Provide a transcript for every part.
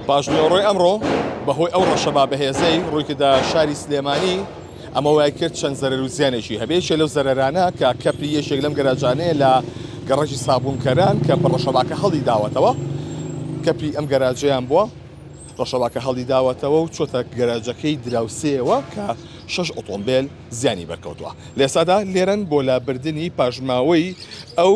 پاشنیوەڕۆی ئەمڕۆ بەهۆی ئەو ڕەشەبا بەهێزەی ڕوویکردە شاری سلێمانی، ئەمە وایکرد چەند زەرەر و زیانێکی هەبێت، یەکێک لەو زەرەرانە کە کەپری یەکێک لەم گەراجانەیە لە گەڕەکی سابوونکەران کە بە ڕەشەباکە هەڵیداوەتەوە، کەپری ئەم گەراجەیان بووە ڕەشەباکە هەڵیداوەتەوە و چۆتە گەراجەکەی دراوسێیەوە کە شەش ئۆتۆمبێل زیانی بەرکەوتووە لە ئێستادا لێرەن بۆ لابردنی پاشماوەی ئەو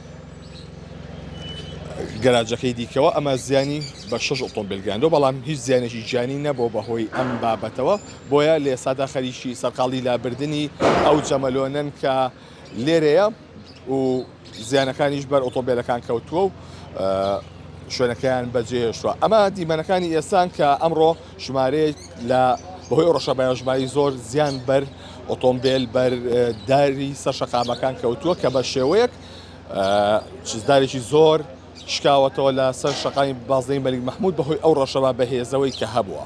گەراجەکەی دیکەوە ئەمە زیانی بە شش ئۆتۆمبیل گەیاندو بەڵام هیچ زیانێکی گیانی نەبووە بەهۆی ئەم بابەتەوە بۆیە لە ئێستادا خەریکی سەرقاڵی لابردنی ئەو جەمەلۆنەن کە لێرەیە و زیانەکانیش بەر ئۆتۆمبیلەکان کەوتووە و شوێنەکەیان بەجێهێشتووە ئەمە دیمەنەکانی ئێستان کە ئەمڕۆ ژمارەیەک لە بەهۆی ڕەشە بەیانژماری زۆر زیان بەر ئۆتۆمبیل بەر داری سەر شەقامەکان کەوتووە کە بە شێوەیەک چزدارێکی زۆر شکاوەتەوە لە سەر شەقامی بازدەی مەلیک مححمود بەهۆی ئەو ڕەشەوە بەهێزەوەی کە هەبووە.